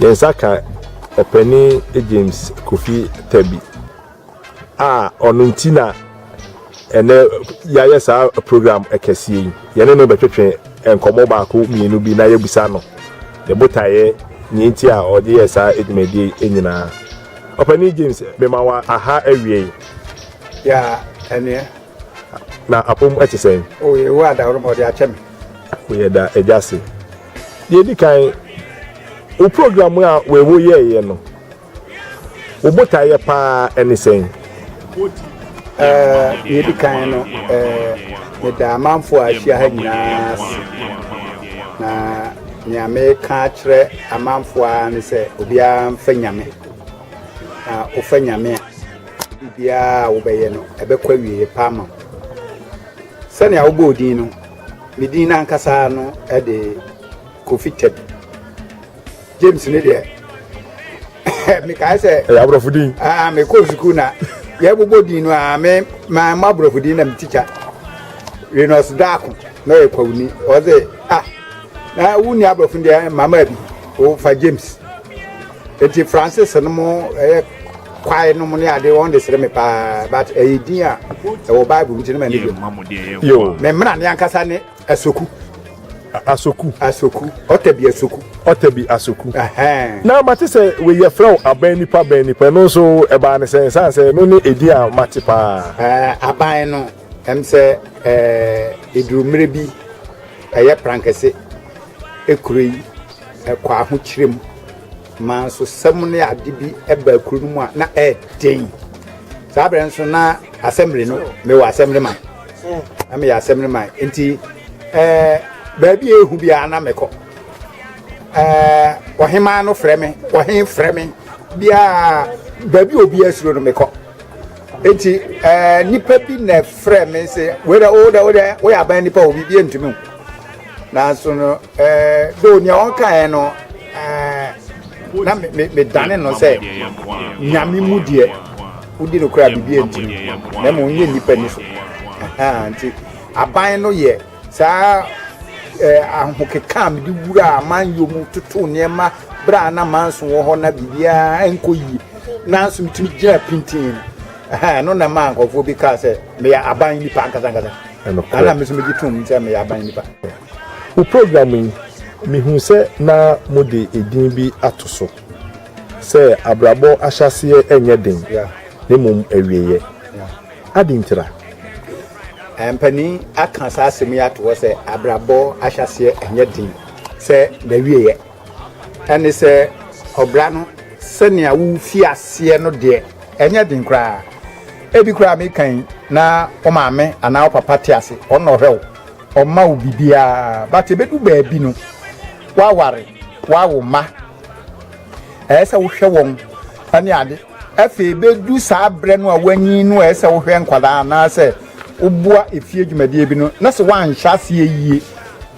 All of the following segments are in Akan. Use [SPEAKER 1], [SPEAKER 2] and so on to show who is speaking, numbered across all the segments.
[SPEAKER 1] Yɛn nsa ka ɔpanin James Kofi Tabi a ɔno nti na ɛnɛ yɛayɛ saa program kɛseɛ yi yɛne no bɛtwetwe nkɔmmɔ baako mmienu bi na yɛbisa no ne botaeɛ nea nti a ɔde yɛ saa adwumadie nyinaa ɔpanin James mema wa aha awie Ya
[SPEAKER 2] ɛneɛ. Na
[SPEAKER 1] apom ɛte sɛn? O yɛ wo adaworo ma
[SPEAKER 2] ɔde akyɛ me. O yɛ da
[SPEAKER 1] agya se. Deɛ di kan, wo program a wei wo yɛɛyɛ no, wo botaeɛ paa ɛne sɛn? Ɛɛ,
[SPEAKER 2] deɛ di kan no, ɛɛ, meda amanfoɔ a ahyia ha nyinaa ase. Na nea meka akyerɛ amanfoɔ a ne sɛ obiara mfa nyame. Na wofa Nyame a, biribiara a wobɛyɛ no, ɛbɛkɔ awieeɛ pa ama wo. Sɛnea wobɔɔ din no, ne din no ankasa no de Kofi Teb. James ne deɛ, mekae sɛ... Ɛyɛ aborɔfo din. Ah,
[SPEAKER 1] mekɔɔ sukuu na
[SPEAKER 2] yɛbobɔ din no a, me maa ma aborɔfo din na me tikya. Renos Daako na ɔyɛ kwawuni. Ɔse, ah, na wonni aborɔfo deɛ, mama bi, wofa James. Eti Francis no mo ɛyɛ kwae no mo ne ade wɔn de sere me paa but ɛyɛ din a ɛwɔ Bible nti no ma ne bi. Yo. Me mmra ne
[SPEAKER 1] ankasa ne
[SPEAKER 2] asoku. Asoku. Asoku. Ɔtɛ bi asoku. Ɔtɛ bi asoku. Na
[SPEAKER 1] mate sɛ wei yɛ frɛ wo aban nipa bɛn nipa ɛno nso ɛbaa ne sɛ nsan sɛ ɛno ne edin a mate paa. Ɛɛ aban no
[SPEAKER 2] Ɛm sɛ ɛduru mmerɛ bi ɛyɛ prankɛse ɛkuro yi ɛkɔ ahokyerɛ mu ma nso sɛm ne ade bi ɛba ɛkuro no mu a na ɛɛden saa berɛ nso na asɛmre no mewɔ asɛmre man na meyɛ asɛmre man nti ɛɛ baabi a ɛhu biara na mekɔ ɛɛ ɔhemaa no frɛ me ɔhen frɛ me biara baabi a obi asuro no mekɔ Enti ɛɛ nipa bi na ɛfrɛ me sɛ wei dɛ wo dɛ wo dɛ woyɛ aban nipa obi bi ntumi o nanso no ɛɛ do nea ɔka yɛn no ɛɛ na me me dane no sɛ nyame mu deɛ wodi no kora bibi ntumi na ma ɔnyɛ nipa ni so nti aban no yɛ. Saa ahokeka a mede wuraa amanyɔ mu totoo nneɛma berɛ a na Manson wɔ hɔ na biribiara nkɔ yie nanso metumi gyina pintinn no, ɛno na ɛmaa nkurɔfoɔ bi kaa sɛ meyɛ aban nipa ankasa ankasa. Ɛna me nso megye tom sɛ meyɛ aban nipa. Wo program
[SPEAKER 1] yi, mehuu sɛ na mode edin bi ato so sɛ Abrabɔ Ahyɛaseɛ Nyɛ Den, na Mmom Awieeɛ. Adɛn nti na?
[SPEAKER 2] Mpanin aka saa asɛm yi ato hɔ sɛ abrabɔ ahyɛaseɛ nyɛ den sɛ n'awieeɛ. Ɛne sɛ ɔbra no sɛnea wofi aseɛ no deɛ ɛnyɛ den koraa. Ebi koraa meka yi na wo maame anaa wo papa te ase, ɔno na ɔhwɛ wo, ɔma wo biribiara. But ɛbɛdu baabi no, woaware, woawo mma, ɛyɛ sɛ wohwɛ wɔn ne ade. Afei bedu saa berɛ no a woanyin no a ɛsɛ sɛ wohwɛ nkwadaa anaasɛ woboa efie dwumadie bi no na sɛ woanhyɛ aseɛ yie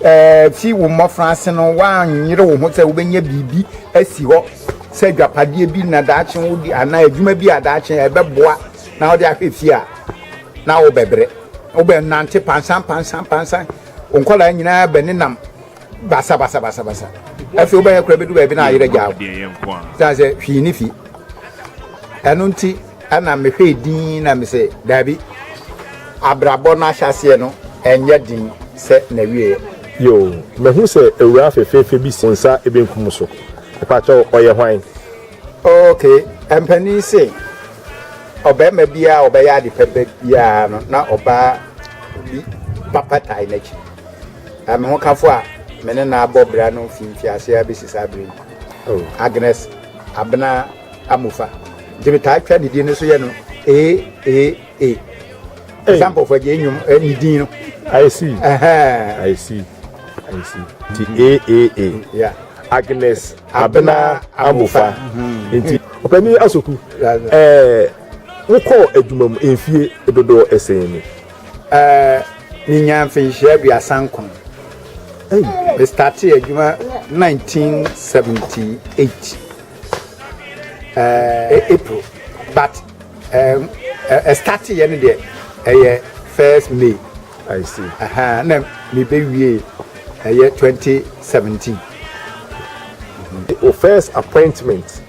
[SPEAKER 2] ɛɛ fi wo mmɔfra ase no woanyere wo ho sɛ wobɛnya biribi asi hɔ sɛ adwapadeɛ bi na daakye wode anaa adwuma bi a daakye ɛbɛboa na wode ahwɛ fie a na wobɛbrɛ wobɛnante pansan pansan pansan nkwadaa nyinaa bɛnenam basa basa basa basa afei wobɛyɛ kora bɛdu baabi na ayerɛ gyaa wo sane sɛ hwii ne fi ɛno nti ɛna mehwɛɛ din na mesɛ daabi abrabɔ no ahyɛseɛ no ɛnyɛ den sɛ na wieɛ
[SPEAKER 1] yoo mahu sɛ awura
[SPEAKER 2] fefeefe
[SPEAKER 1] bi si nsa ebenkum so ɛpakyɛ ɔyɛ hwan ok
[SPEAKER 2] mpanin se ɔbarima biara ɔbɛyɛ ade pɛpɛ biara no na ɔbaa bi papa tae n'akyi Na me hokafo a me ne no abɔ bra no fi mfiase ara besi saa bere yi, Agnes Abena Amofa, nti metaa twa ne din no so yɛ no AAA. Ɛsa mpɔfo agye nnwom eh, ne din no. I see.
[SPEAKER 1] Uh-huh. I
[SPEAKER 2] see.
[SPEAKER 1] I see. Nti AAA. Yeah. Agnes Abena Amofa. Mm-hmm. Nti ɔpanyin asoku ɛɛ wokɔ adwuma mu mfie dodoɔ ɛsɛn ni. Eh,
[SPEAKER 2] menyaa mfenhyia aduasa nkron. Mestartee adwuma 1978 eh, April but eh, eh, starteeɛ no deɛ ɛyɛ first May I see.
[SPEAKER 1] Aha, na
[SPEAKER 2] mebɛwie ɛyɛ 2017
[SPEAKER 1] Your first appointment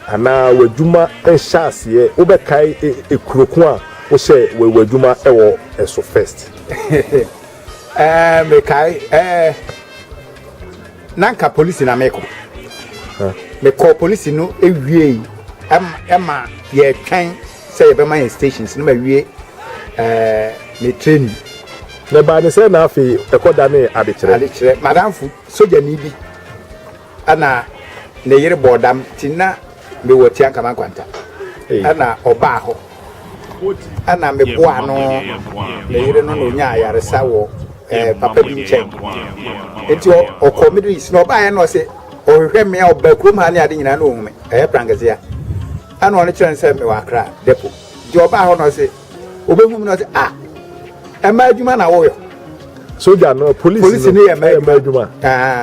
[SPEAKER 1] Anaa w'adwuma nhyɛaseɛ wobɛkae kuro ko a wohyɛɛ w'adwuma wɔ so first? Ɛɛ
[SPEAKER 2] mekae ɛɛ na nka polisi na mekɔ mekɔ polisi no ewiei ɛma yɛtwɛn sɛ yɛbɛma yɛn stations no ma wie ɛɛ me training na ɛbaa ne
[SPEAKER 1] sɛ na afei ɛkɔ da ne adekyerɛ adekyerɛ madamfo
[SPEAKER 2] sogyani bi Ɛna ne yere bɔɔ dam nti na mewɔ Tiankama Nkwanta. Ɛna ɔbaa hɔ. Ɛna meboaa no, me yere no na ɔnyaa ayaresa wɔ eh, papa bi nkyɛn. Nti ɔkɔ Middle East na ɔbaeɛ na ɔse ɔhwehwɛ mmea ɔbaa kurom ha ne ade nyinaa na ɔhu me. Ɛyɛ Prankesea. Ɛna ɔno kyerɛ no sɛ mewɔ Accra depot. Nti ɔbaa hɔ na ɔse obehu mi na ɔsɛ ah ɛmɛ adwuma na wɔyɔ. soja no
[SPEAKER 1] polisi no polisi no yɛ ɛmɛ adwuma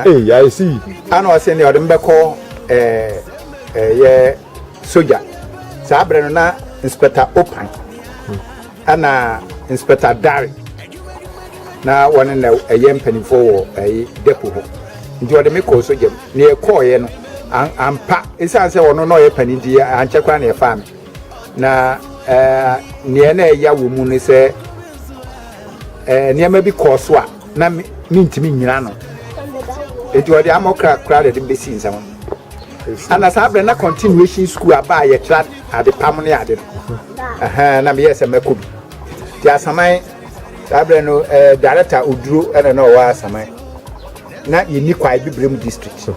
[SPEAKER 1] ee yà esi. ana ɔsɛ ni ɔde mi
[SPEAKER 2] bɛ kɔ ɛɛ ɛyɛ soja saa abirɛ no na inspector opan ɛna inspector dari na wɔne na ɛyɛ mpanimfoɔ wɔ ɛyi depo hɔ nti ɔde mi kɔ soja mu nea ɛkɔɔyɛ no ampa esan sɛ ɔno na ɔyɛ panin ti ankyɛ koraa na ɛfa mi. Na nea na ɛya wɔ mu ne sɛ nneɛma bi kɔɔ so a na mentumi nnyina no nti ɔde ama ɔkra koraa de de bɛsi nsɛm ana saa berɛ na continuation school aba a yɛtra adepam ne ade no na meyɛ sɛ mɛkɔ bi nti asaman saa berɛ no director oduro ɛna na ɔwɔ asaman na yɛnni kwae bibrem district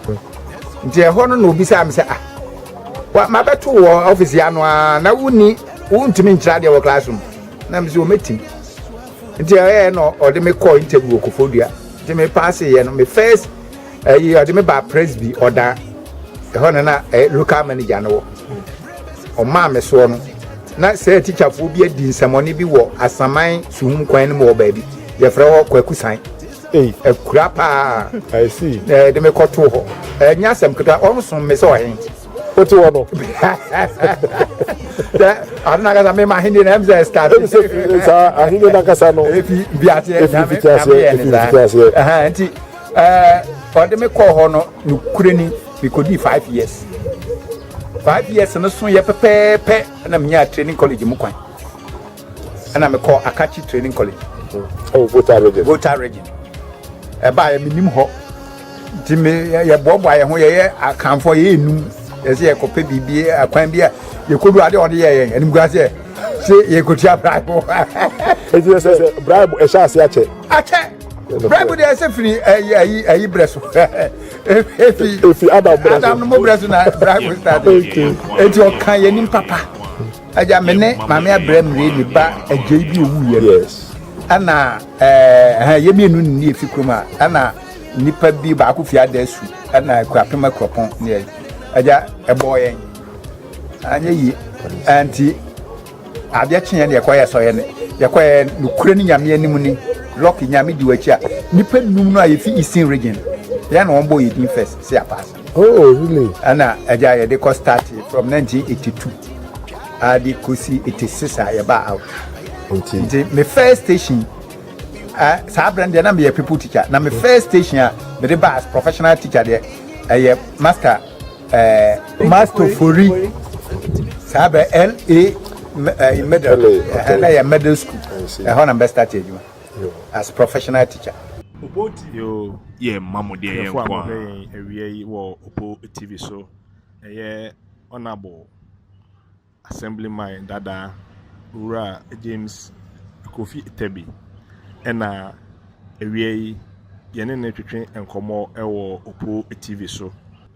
[SPEAKER 2] nti ɛhɔ no na obisaa me sɛ ah mabɛto wɔ office yɛ ano a na wonni wontumi nkyerɛ adeɛ wɔ classroom na me sɛ wɔmɛtim nti ɛyɛ na ɔde me kɔɔ interview wɔ kofodua nti me paase yɛ no me first ɛyi ɔde me baa presby ɔdan ɛhɔ no na eh, local manager no wɔ ɔmaa me soɔ no na sɛ tikyafoɔ bi adi nsɛmɔne bi wɔ asaman suhum kwan no mu wɔ baabi yɛfrɛ hɔ kwakusan Ei, akura paa! I see. Na
[SPEAKER 1] yɛde me kɔtoo hɔ.
[SPEAKER 2] Ɛnyɛ asɛm ketewa, wɔsom me sɛ ɔhen. Wote hɔ no. Sɛ ano n'ankasa mema ahenni no ɛm sɛ ɛstart. Ɛm sɛ fi saa ahenni
[SPEAKER 1] n'ankasa no. Efi bi aseɛ.
[SPEAKER 2] Efi fi aseɛ. Efi fi aseɛ. Nti ɔde me kɔɔ hɔ no nukure ni mekɔdii five years. Five years no so yɛ pɛpɛɛpɛ na menyaa training college mu kwan. ɛna mekɔɔ Akachi Training College oh, Volta region. Volta region. Ɛbaeɛ menim hɔ nti me yɛboaboa yɛn ho yɛyɛ akanfoɔ yɛyɛ enum yɛsɛ yɛkɔpɛ biribi akwan bi a yɛkɔdu adeɛ ɔde yɛ yɛn animguan sɛ sɛ yɛkɔtua bribe ɛti
[SPEAKER 1] sɛ sɛ bribe ɛhyɛ ase akyɛ akyɛ bribe
[SPEAKER 2] deɛ ɛsɛ firi ayi ayi ayi brɛ so efi
[SPEAKER 1] efi adam brɛ so adam
[SPEAKER 2] no mo brɛ so na bribe start ɛti ɔka yɛn nim papa. Agya me ne maame abrɛ mmire me ba adwei bi owu yɛ no ɛna ɛɛ yɛ mienu ne ne efi kurom a ɛna nipa bi baako fi ada su ɛna kura pema kuropɔn ne yɛ agya ɛbɔ yɛn anyɛ yi ɛnti adeɛ kye yɛn yɛkɔ yɛ sɔ yɛn yɛkɔ yɛ nukure ne nyame anim ni lɔki nyame di wakyi a nipa num no a yɛfi eastern region yɛn na wɔn bɔ yɛ din first si apaase. Oh, really?
[SPEAKER 1] Ɛna agya yɛde
[SPEAKER 2] kɔ start from 1982 adi kosi 86 a yɛba out. Nti nti me first station uh, saa abirɛ deɛ na meyɛ people teacher na me first station a mede ba as professional teacher deɛ ɛyɛ eh, master uh, eh, master fori saa bɛ la eh, middle ɛhɛn na yɛ middle school ɛhɔ na bɛ start adwuma. Yo as professional teacher. Opo TV. Yo
[SPEAKER 1] yɛ ma mo deɛ yɛ nkoaa.
[SPEAKER 3] Tiɛfoɔ a mohwɛ yɛn awia yi wɔ
[SPEAKER 1] Opo TV so ɛyɛ Honourable Assemblyman Dada Owura James Kofi Tebi ɛna awia yi yɛne no retwetwe nkɔmmɔ ɛwɔ Opo TV so.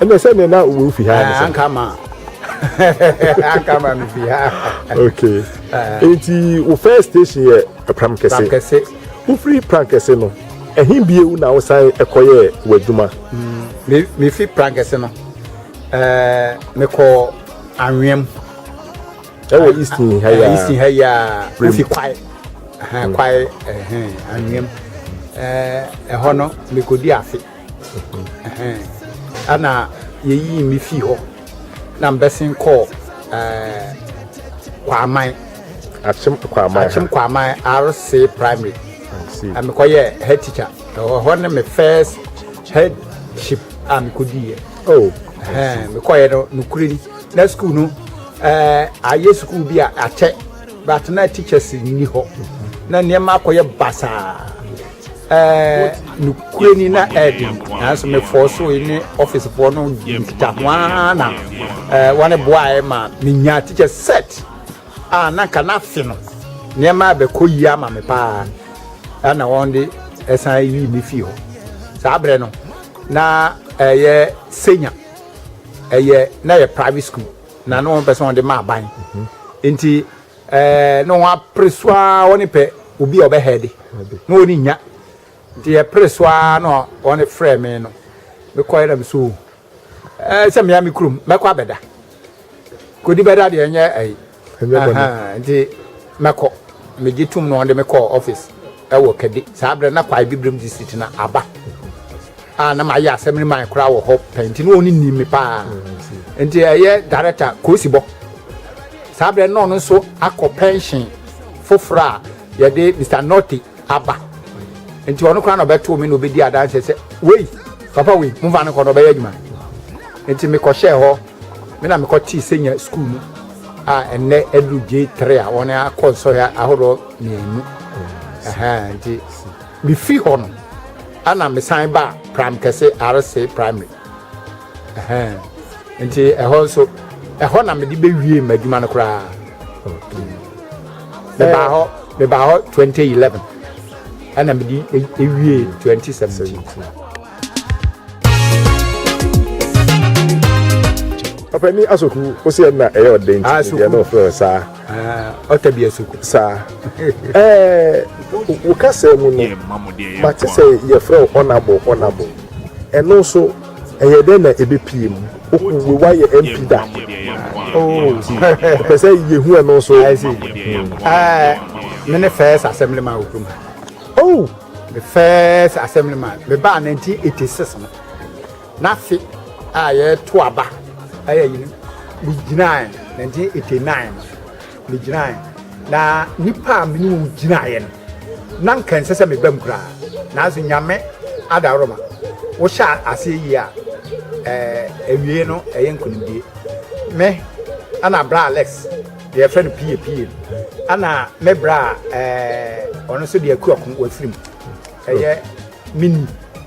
[SPEAKER 2] ɛnna sɛ nea na
[SPEAKER 1] wo fi ha ne sɛ anka ma
[SPEAKER 2] anka ma me fi ha okay
[SPEAKER 1] nti wo first station yɛ pram kɛse pram kɛse
[SPEAKER 2] wofiri pram
[SPEAKER 1] kɛse no ɛhin biewu na wosan ɛkɔyɛ w'adwuma mm, me
[SPEAKER 2] fi pram kɛse no ɛɛ mekɔ anweam
[SPEAKER 1] ɛwɔ easton ha yɛ easton ha yɛ
[SPEAKER 2] wofi kwae kwae ɛhɛn anweam ɛɛ ɛhɔ no mekɔdi afe. Ɛna yɛyii me fii hɔ na mbɛsen kɔɔ Kwaman. Akyem
[SPEAKER 1] Kwaman. Akyem Kwaman RC
[SPEAKER 2] primary. Na mekɔyɛ head teacher. Ɛwɔ hɔ ne me first headship a mekɔdiiɛ. Oh. Mekɔyɛ no nokorɛ ni. Na sukuu no ayɛ sukuu bi a akyɛ but na teachers nni hɔ. Na nneɛma akɔyɛ basaa. ɛɛ nukure ni na ɛɛden nanso mefɔɔ so yi ne ɔfisefoɔ no nkita ho ara na ɛɛ wɔne boaeɛ ma menya teacher set a na nka n'afe no nneɛma abɛkɔ yie ama me paa ɛna wɔn de ɛsan yi me fie hɔ saa berɛ no na ɛyɛ senya ɛyɛ na yɛ private school na ne wɔn pɛ sɛ wɔn de ma aban nti. Ɛɛ no wɔn apere so ara wɔn pɛ obi a ɔbɛ hɛɛde na wɔn nya nti yɛ pere so ara na wɔn frɛ me no me kɔɛ na me so ɛɛ sɛ mmea me kurom mɛkɔ abɛda kodi bɛda deɛ ɛnyɛ ɛyi nti mɛkɔ megye tum na wɔn de me kɔ ɔfis. Ɛwɔ Kadi, saa berɛ no na Kwae Bibirem District na aba a na mayɛ Assembly man koraa wɔ hɔ pɛ nti na ɔno nim me paa nti ɛyɛ Director Kosibɔ saa berɛ no na ɔno nso akɔ pension foforɔ a yɛde Mr. Norte aba nti ɔno koraa na ɔbɛtoo me na ɔbɛdi adanseɛ sɛ wei papa wei momfa no kɔ na ɔbɛyɛ adwuma nti mekɔhyɛɛ hɔ me na mekɔtee sɛnya sukuu mu a ɛnnɛ aduru J3 a wɔn akɔ nsɔhwɛ ahodoɔ mmienu. Ɛhɛn, nti mefi hɔ no, ɛna mesan baa Pram Kɛse RC Primary. Ɛhɛn, nti ɛhɔ nso, ɛhɔ na mede bɛwie m'adwuma no koraa. Mebaa hɔ, mebaa hɔ 2011, ɛna mede ewie 2017.
[SPEAKER 1] ɔpɛni asɔku wosi ɛna ɛyɛ ɔden ti deɛ na ɔfrɛ saa. Ah, ɔtɛ bi
[SPEAKER 2] ɛso ko. Saa.
[SPEAKER 1] Ɛɛ, wo kasa mu no, mate sɛ yɛfrɛ wo honorable, honorable. Ɛno nso, ɛyɛ dɛn na ɛbɛpie mu? Wokuwe woayɛ MP da? Oh, pɛ sɛ yɛhu ɛno nso. I see. Ɛɛ,
[SPEAKER 2] me ne first assemblyman wɔ kurom ha. Oh! Me first assemblyman, mebaa 1986 no. N'afe a yɛreto aba yɛ yi no, megyinaeɛ, 1989 no, megyinaeɛ. Na nnipa a me ne wɔn gyinaeɛ no, na nka ɛnsɛ sɛ mebam koraa. Nanso Nyame adaworoma, wohyɛ aseɛ yie a, eh, awiei no ɛyɛ nkonimdie. Me, ɛna bra Alex, deɛ yɛfrɛ no Pie Pie, ɛna me bra a, eh, ɔno nso deɛ Akuaku Wafirim, ɛyɛ me ni.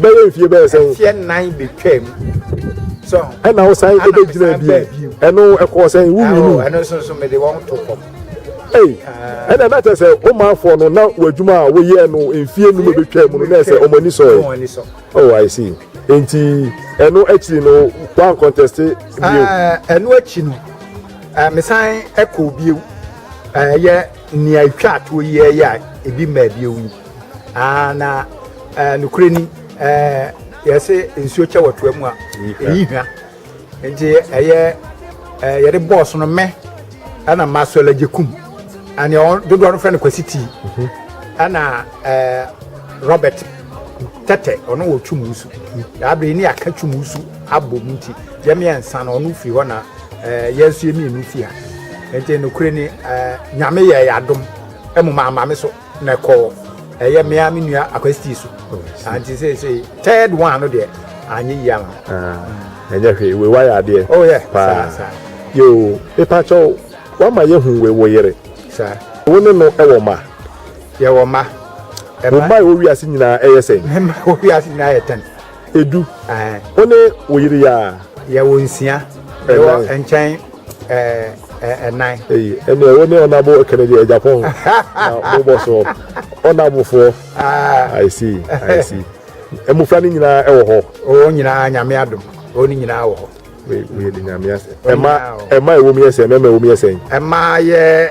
[SPEAKER 1] bɛyɛ mfie bɛyɛ sɛn mfie nan betwam so
[SPEAKER 2] ɛna wo san
[SPEAKER 1] ebe gyina bi ɛno ɛkɔ sɛn wo wi mu ɛno nso nso mede wɔn
[SPEAKER 2] to kɔm ei
[SPEAKER 1] ɛna na kyerɛ sɛ ɔmanfoɔ no na w'adwuma a woyɛ no mfie num ebetwa mu no na ɛsɛ wɔn ani sɔ yɛ oh i see nti ɛno akyiri no wɔn kɔntɛste bio ah, ɛno
[SPEAKER 2] akyi no ah, mesan ɛkɔ bio ɛyɛ ah, nea atwa atoɔ yi ɛyɛ a ebi mmaa bio yi. aa na ɛɛ nokorɛ ni ɛɛ yɛsɛ nsuo kyɛ wɔ toa mu a ɛyi hwa nti ɛyɛ ɛɛ yɛde bɔɔso no mɛ ɛna mma so ɛlɛgye kum ɛna wɔn dodoɔ no fɛ no kwasi tii mhm. ɛna ɛɛ robert tɛtɛ ɔno wɔ twum wusu yabere ni aka twum wusu abɔ mu nti yɛ mmiɛnsa no ɔno firi hɔ na ɛɛ yɛn nso yɛ mmienu firi ha nti nokorɛ ni ɛɛ nyame yɛ yɛ adom ɛmu maa maame so. na kɔ ɛyɛ mmea me nua akwasti so anti sɛ sɛ third one no deɛ anyɛ yie ama ɛnyɛ
[SPEAKER 1] hwee wei wayɛ adeɛ oh yeah paa yoo mepa kyɛw wama yɛhu wei wo yere saa wo ne
[SPEAKER 2] no ɛwɔ
[SPEAKER 1] ma yɛwɔ ma
[SPEAKER 2] wo ma ɛwɔ
[SPEAKER 1] wiase nyinaa ɛyɛ sɛn me ma ɛwɔ wiase nyinaa yɛ
[SPEAKER 2] tɛn edu
[SPEAKER 1] wo ne wo yere yɛ a. yɛwɔ nsia
[SPEAKER 2] yɛwɔ nkyɛn ɛnan. eyi ɛnna
[SPEAKER 1] wo ne ɔnabo kennedy ɛjapɔn na mo bɔ so ɔnabofoɔ i see i see mmofra no nyinaa ɛwɔ hɔ. wɔn nyinaa nyame
[SPEAKER 2] adom wɔn nyinaa wɔ hɔ. wei wei de nyame
[SPEAKER 1] asɛ ɛma ɛma ɛwɔ mu yɛ sɛ mɛma ɛwɔ mu yɛ sɛ. ɛma yɛ.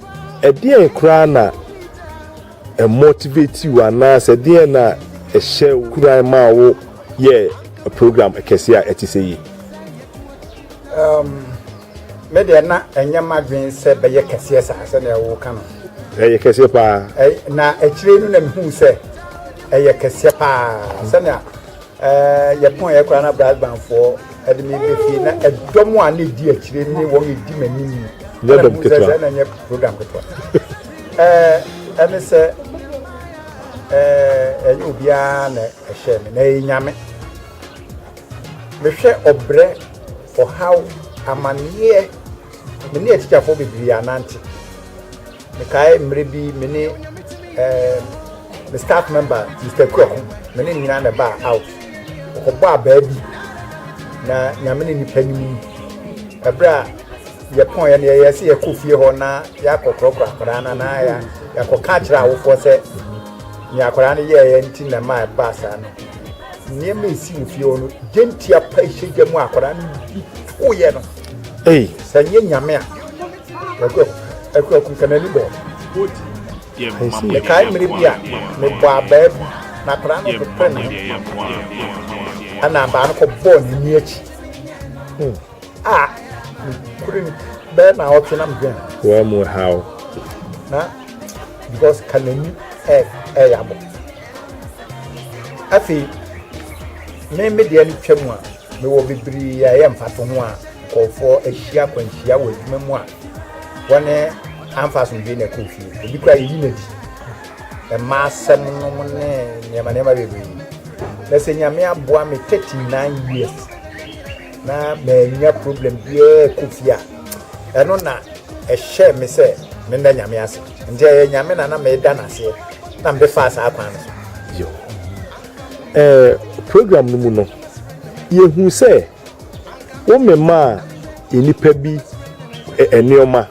[SPEAKER 1] Ɛdeɛn koraa na ɛmotivate wo anaasɛ ɛdeɛn na ɛhyɛ wo kuran maa wo yɛɛ program kɛseɛ a ɛte sɛ yi? Um,
[SPEAKER 2] me deɛ na ɛnyɛ m'adwene sɛ bɛyɛ kɛseɛ saa sɛnea woka no. Ɛyɛ kɛseɛ paa.
[SPEAKER 1] Na akyire
[SPEAKER 2] no na mehu sɛ ɛyɛ kɛseɛ paa sɛnea Ɛɛ, yɛkɔeɛ koraa na Brisbanefoɔ de me bɛfie na ɛdɔm a na ɛdi akyire ne wɔn ɛdi m'anim mu. Nyɛ dɔm ketewa.
[SPEAKER 1] Sɛ ɛna nyɛ program ketewa.
[SPEAKER 2] Ɛɛ, ɛne sɛ ɛɛ ɛnyɛ obiara na ɛhyɛ me na ɛyɛ nyame. Mehwɛ ɔbrɛ, ɔhaw, amanneɛ, me ne atikyafoɔ bebree anante. Mekae mmerɛ bi me ne me staff member Mr. Kuaku me ne nyinaa na ɛbaa out ɔkɔbɔ abaa bi na nyame ne nipa nim ɛberɛ a yɛpɔn yɛ no yɛyɛ sɛ yɛkɔ fie hɔ na yɛakɔ korɔkorɔ akwadaa no na yɛakɔka akyerɛ awofoɔ sɛ ne akwadaa no yɛɛyɛ nti na ma ɛbaa saa no nneɛma ɛsi wɔ fie hɔ no gyentia pa ɛhyɛ gya mu akwadaa no bi woyɛ no sɛ nyɛ nyame a Mekae mmere bi a mebɔɔ abaa bi, na akwadaa no popree me ho, ɛnna abaa no kɔbɔɔ n'ani akyi. A mekore no bɛyɛ nnawɔtwe na medwen ho. Wɔ mu haw.
[SPEAKER 1] Na
[SPEAKER 2] because ka n'ani ɛyɛ abɔ. Afei, me me deɛ no twa mu a, Mewɔ bebree a ɛyɛ mfatoho a nkurɔfoɔ ahyia akwanhyia wɔ adwuma mu a wɔne amfa asomdwee na ɛkɔɔ fie. Ebi koraa yɛyi no adi. Mmaa asɛm nom ne nneɛma nneɛma bebree. Na sɛ Nyame aboa me 39 years na manya problem biara kɔ fie a ɛno na ɛhyɛ me sɛ menda Nyame ase. Nti ɛyɛ Nyame na na meda no aseɛ na mede faa saa kwan no so. Yo.
[SPEAKER 1] Eh, program no mu no, yɛhu sɛ wo memaa nnipa bi nneɛma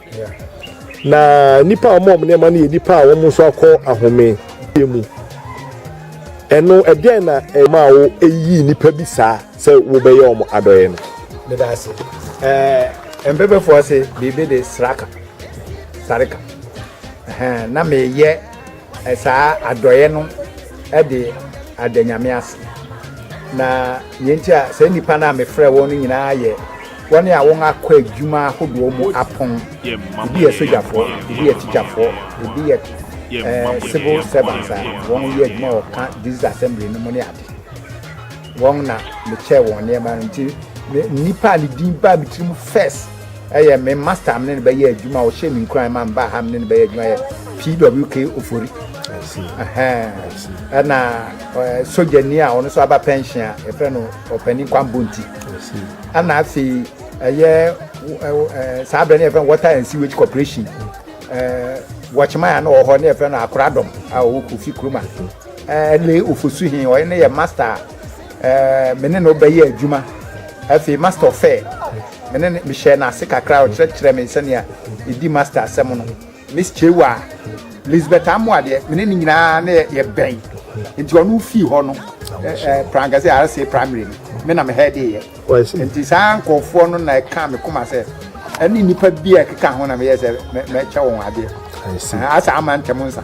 [SPEAKER 1] na nnipa a wɔn nneɛma no yɛ nnipa a wɔn nso akɔ ahome mu ɛno ɛdeɛn na ɛma wo ɛyi nnipa bi saa sɛ wobɛyɛ wɔn adɔeɛ no meda ase
[SPEAKER 2] ɛɛ mpɛpɛfoɔ ase biribi de sraka sareka na meyɛ Saa adɔeɛ no de ada Nyame ase. Na deɛ nti a saa nnipa no a mefrɛɛ wɔn no nyinaa yɛ wɔn a wɔakɔ adwuma ahodoɔ mu apɔn. Ebi yɛ sogyafoɔ, ebi yɛ tikyafoɔ, ebi yɛ eh, civil servants a wɔyɛ adwuma wɔ ka district assembly no mu ne ade. Wɔn na mekyɛɛ wɔn nneɛma no nti nnipa a ne din baa me tirim first ɛyɛ me master a me ne no bɛyɛ adwuma a ɔhyɛ me nkuran ma mbaa ha me ne no bɛyɛ adwuma yɛ pwk ofori
[SPEAKER 1] ɛna
[SPEAKER 2] sogyani a ɔno nso aba pension a yɛfrɛ no ɔpanin kwambo nti
[SPEAKER 1] ɛna afei
[SPEAKER 2] ɛyɛ saa berɛ no yɛfrɛ no water and sewage corporation wɔkyema a na ɔwɔ hɔ ne yɛfrɛ no akoradɔm a ɔwɔ kofi kuroma ɛne ofosu he ɔyɛ ne yɛ master a Ɛɛ, me ne no bɛyɛɛ adwuma. Afei Master ɔfɛɛ me ne no, mehyɛɛ no ase kakra. Ɔkyerɛkyerɛɛ me sɛnea yedi Master asɛm no. Miss Chewa, Lisbeth Amoah deɛ, me ne no nyinaa na yɛbɛn. Enti ɔno fii hɔ no, ɛɛ, Prangase RCA Primary no, me na me hɛɛdeeɛ. Enti saa nkurɔfoɔ no na ɛkaa me koma sɛ, ɛne nnipa bi a ɛkeka ho na meyɛɛ sɛ mɛkyɛ wɔn adeɛ. Asan
[SPEAKER 1] ama ntɛm nsa.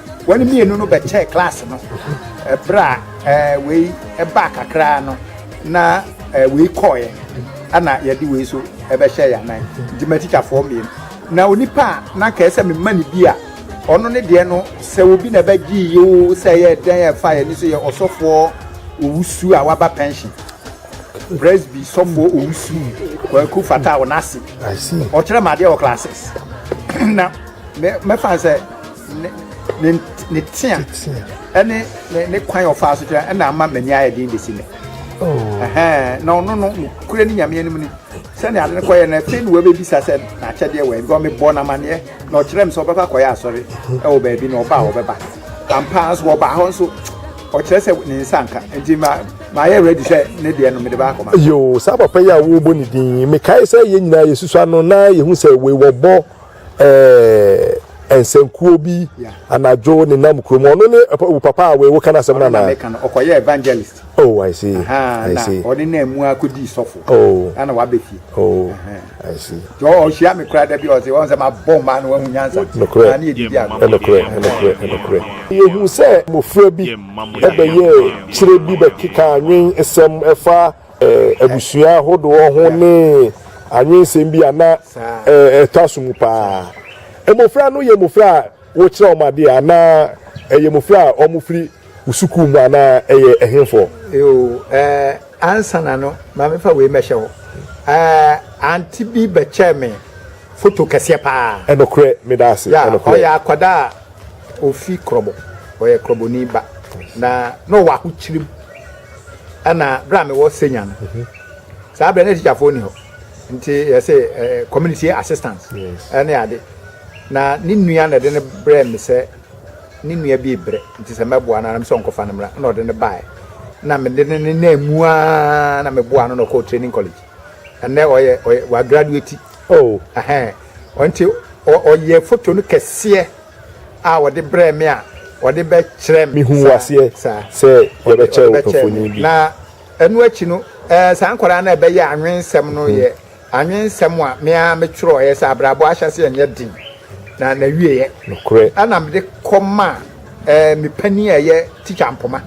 [SPEAKER 1] Wɔn mmienu
[SPEAKER 2] no bɛkyɛɛ klaase no berɛ a wei baa kakra no na wei kɔɔeɛ ɛna yɛde wei so ɛbɛhyɛ yɛn anan nti matikyafoɔ mmienu na onipa a na nka ɛsɛ me mma ne bi a ɔno ne deɛ no sɛ obi na ɛbɛgye yie o sɛ ɛyɛ ɛdɛn a ɛfa yɛn ani so yɛ ɔsɔfoɔ owusu a waba pension presby sɔfoɔ owusu kwaku fata a ɔno ase ɔkyerɛ
[SPEAKER 1] mu adeɛ wɔ classes
[SPEAKER 2] na mɛfa sɛ ne tea ɛne ne kwan ɔfaa so kyerɛ ɛna ama m'ani ayɛ den bɛsi nɛ oh. na ɔno no nokorɛ ne nyame anim ni sɛnea ade no kɔyɛ no afei ne wɔbɛbisa sɛ n'akyɛdeɛ wɔ ɛbɔ mebɔ no amanneɛ na ɔkyerɛ me sɛ ɔbɛkɔ akɔyɛ asɔre ɛwɔ baabi na ɔba a ɔbɛba ampaa nso wɔbaa hɔ nso ɔkyerɛ sɛ ne nsa nka nti ma mayɛ ready sɛ ne deɛ no mede baakɔma yo saa papa yi a
[SPEAKER 1] wobɔ ne din mekae sɛ yɛ nyinaa yɛsusu ano na yɛhu sɛ wei wɔbɔ Eh, nsankuo bi anadwo ne nam kurom ɔno ne wo papa a wo kan asɛm na na meka no ɔkɔyɛ evangelist
[SPEAKER 2] oh i see
[SPEAKER 1] i na see ɔne na mu akɔdii
[SPEAKER 2] sɔfo oh ana wabɛ
[SPEAKER 1] fie
[SPEAKER 2] oh
[SPEAKER 1] i see so ɔhyia me koraa
[SPEAKER 2] da bi ɔse wɔn sɛ mabɔ mmaa no wahu nyansa nokorɛ na ne yɛdidi ano
[SPEAKER 1] nokorɛ nokorɛ nokorɛ yɛhu sɛ mmɔfra bi ɛbɛyɛ kyerɛ bi bɛkeka nwen nsɛm ɛfa abusua ahodoɔ ho ne anwensɛm bi a na ɛtɔ aso mu paa. Mmofra no yɛ mmofra a wokyerɛ wɔn adeɛ anaa ɛyɛ mmofra a wɔfiri wo sukuu mu anaa ɛyɛ ɛhefoɔ? Yoo, ɛɛ,
[SPEAKER 2] ansa na no, ma mefa wei mɛhyɛ hɔ. Ɛɛ, ante bi bɛkyɛɛ me foto kɛseɛ paa. Ɛnokorɛ, meda ase.
[SPEAKER 1] Ya, ɔyɛ akwadaa
[SPEAKER 2] a ɔfi Krɔbɔ, ɔyɛ Krɔbɔni ba, na na ɔwɔ ahokyirim. Ɛna berɛ a mewɔ senior no saa berɛ na tikyafoɔ ni hɔ nti yɛsɛ eh, community assistance ɛne ade na ne nua na ɛde no brɛ me sɛ ne nua bi brɛ nti sɛ mɛboa no anam sɛ ɔnkɔfa no mmra na ɔde no baeɛ na mede no ne na mu a na meboa no na ɔkɔɔ training college ɛnɛ ɔyɛ ɔyɛ wagraduate Oh ɛhɛn ɔnti ɔyɛɛ photo no kɛseɛ a ɔde brɛɛ me a ɔde bɛ kyerɛ me. Me huu aseɛ sɛ
[SPEAKER 1] yɛbɛ kyɛ wo mfoni bi. Na ɛno akyi
[SPEAKER 2] no ɛɛ saa nkwadaa no a ɛbɛ yɛ anwensɛm no yɛ anwensɛm a me ara me twerɛeɛ sɛ abrabɔ ahyɛseɛ nyɛ den na na wieɛ. Nokorɛ. Ɛna mede
[SPEAKER 1] kɔ
[SPEAKER 2] maa ɛɛ me panin a ɛyɛ teacher Mpoma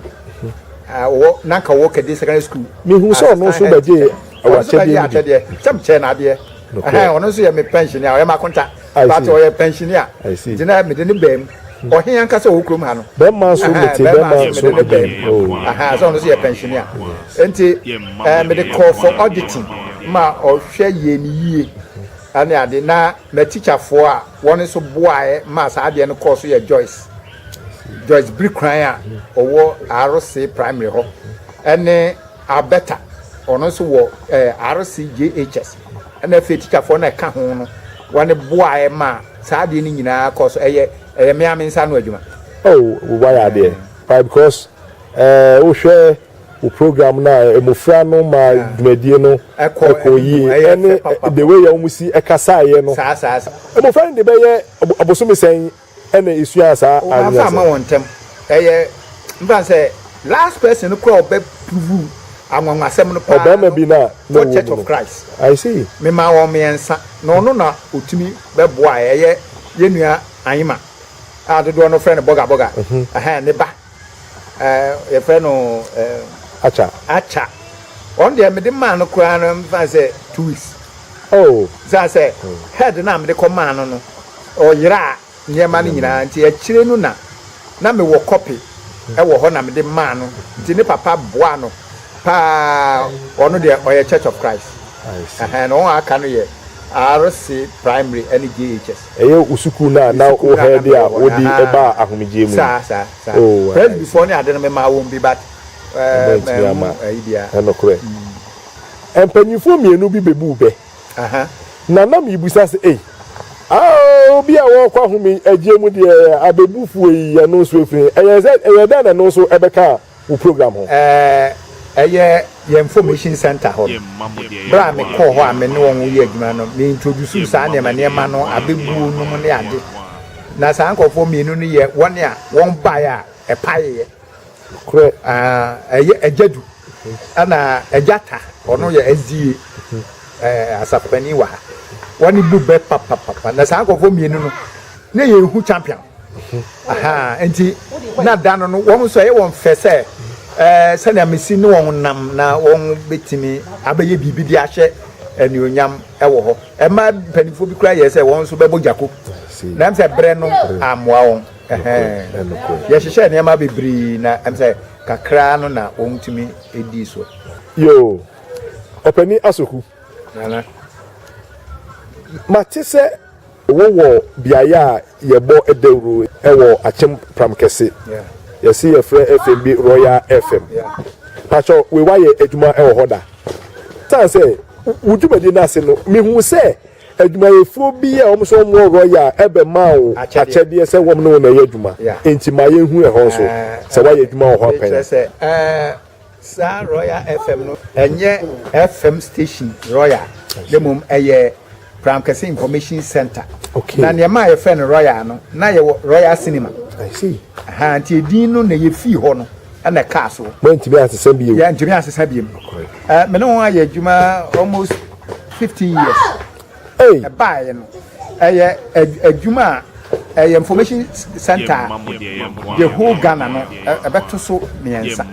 [SPEAKER 2] a ɔwɔ na nka ɔwɔ Kadi secondary school. Me huu sɛ ɔno nso
[SPEAKER 1] bɛ gyee Ɔno nso bɛgye akyɛdeɛ
[SPEAKER 2] sɛ mekyɛɛ no adeɛ. Ɛhɛn, ɔno nso yɛ me pɛnhyenni a ɔyɛ m'akonta. But ɔyɛ pɛnhyenni a, nti na mede no baam. Ɔhe ankasa a ɔwɔ kurom ha no? Bɛrima nso Ɛhɛn, mete, bɛrima
[SPEAKER 1] bɛrima nso nso mede no mede baam. no. Oh. Ɛhɛn, sɛ
[SPEAKER 2] ɔno nso yɛ pɛnhyenni a. Enti eh, mede kɔɔ for auditing ma ɔhwɛ yɛɛ me yie ne ade. Na m'atikyafoɔ a wɔn nso boaeɛ maa saa adeɛ no kɔɔ so yɛ Joyce, Joyce Birikuran a ɔwɔ Arosee Primary hɔ ne Alberta, ɔno nso wɔ ɛɛ RCJHS, ɛna afei tikyafoɔ no a ɛka ho no, wɔne boaeɛ maa saa adeɛ no nyinaa kɔɔ so. Ɛyɛ ɛyɛ mmea me nsa ano adwuma. Oh, wayɛ
[SPEAKER 1] adeɛ paa because ɛɛ wohwɛ wo program no a, mmofra no ma dwumadie no kɔ yie, ɛne the way a wɔn si kasaeɛ no. Mmofra no
[SPEAKER 2] de bɛyɛ
[SPEAKER 1] ɔbosome sɛn? ɛna esuaa saa ade no ase. Wɔamfa amma wɔn ntam.
[SPEAKER 2] Ɛyɛ mfa no sɛ last person no koraa a ɔbɛ prove anwanwasɛm no paa no wɔ
[SPEAKER 1] Church of
[SPEAKER 2] Christ. Memaa
[SPEAKER 1] wɔn mmiɛnsa
[SPEAKER 2] na ɔno na ɔtumi bɛboaeɛ. Ɛyɛ yɛn nua Anyima a dodoɔ no frɛ no Bɔga Bɔga, ɛhɛn, ne ba. ɛɛ yɛfrɛ no ɛɛ akya akya ɔn deɛ mede maa no koraa no mfa sɛ two weeks oh
[SPEAKER 1] saa sɛ hmm.
[SPEAKER 2] head no a mede kɔ maa no no ɔyeraa nneɛma no nyinaa nti akyire no na na mewɔ kɔpe hmm. ɛwɔ hɔ na mede maa no nti ne papa boa no paa ɔno deɛ ɔyɛ church of christ ɛhɛn na wɔn aka no yɛ rc primary ɛne jhs Ɛyɛ wo sukuu no a
[SPEAKER 1] na wo hɛɛde a wode baa ahomegyeɛ mu no? Oh,
[SPEAKER 2] Ɔmantumi amma
[SPEAKER 1] Ɛnokorɛ Mpanyinfoɔ mmienu bi bɛbuu bɛ na na mebisa sɛ, Ei, ah, obi a ɔrekɔ ahomegyeɛ mu deɛ abɛbu fuo yi, ɛno nso ɛfiri he? Ɛyɛɛ sɛ, ɛyɛɛ dɛn na ɛno nso ɛbɛkaa wo program ho. Ɛyɛ
[SPEAKER 2] yɛn Information Centre hɔ no. Berɛ a mekɔɔ hɔ a me ne wɔn reyɛ adwuma no, me introducee saa nneɛma nneɛma no, abɛbuo nom ne ade. Na saa nkorɔfoɔ mmienu no yɛ wɔn a wɔn baeɛ a ɛpaeeɛ. Nokorɛ,
[SPEAKER 1] ɛyɛ
[SPEAKER 2] Agya Du ɛna Agya Ta, ɔno yɛ SDA asafo panin wɔ ha. Wɔn bo bɛ papapapa. Na saa nkorɔfoɔ mmienu no. Ne yɛ ehu champion ahaa nti na da no no wɔn nso ɛyɛ wɔn fɛ sɛ ɛɛ eh, sɛnea mesi ne wɔn nam na wɔn betumi abɛyɛ biribi de ahyɛ anuonyam ɛwɔ hɔ ɛma mpanimfoɔ bi kura yɛ sɛ wɔn nso bɛbɔ gyako na ɛm sɛ brɛ no amoa wɔn yɛhyehyɛ nneɛma bebree na ɛm sɛ kakra no na wɔn tumi edi so. yoo
[SPEAKER 1] ɔpɛni asoku mate sɛ. Wowɔ beaeɛ a yɛbɔ dawuro wɔ akyem pram kɛse yɛse yɛfrɛ fm bi royal fm pakyɛw wei wayɛ adwuma wɔ hɔ da tan sɛ wo dwumadie no ase no mehu sɛ adwumayɛfoɔ bi a wɔn nso wɔn wɔ royal ɛbɛma wo akyɛdeɛ sɛ wɔn ne wɔn ɛyɛ adwuma nti ma yɛnhu ɛhɔ nso sɛ wayɛ adwuma wɔ hɔ apɛn
[SPEAKER 2] Saa Royal FM no ɛnyɛ FM station Royal na mmom ɛyɛ Crown Kɛse Information Centre. Okay. Na nea ɛmaa
[SPEAKER 1] yɛfrɛ no
[SPEAKER 2] Royal no, na yɛwɔ Royal Cinema. I see.
[SPEAKER 1] Aha, nti edin no
[SPEAKER 2] na yɛfii hɔ no na ɛkaa so. Moantumi ansesa bio?
[SPEAKER 1] Yɛantumi ansesa bio. Okay.
[SPEAKER 2] Uh, me ne ho ayɛ adwuma almost 15 years.
[SPEAKER 1] ɛbaeɛ no,
[SPEAKER 2] ɛyɛ adwuma a ɛyɛ information center a the whole Ghana no ɛbɛto so mmiɛnsa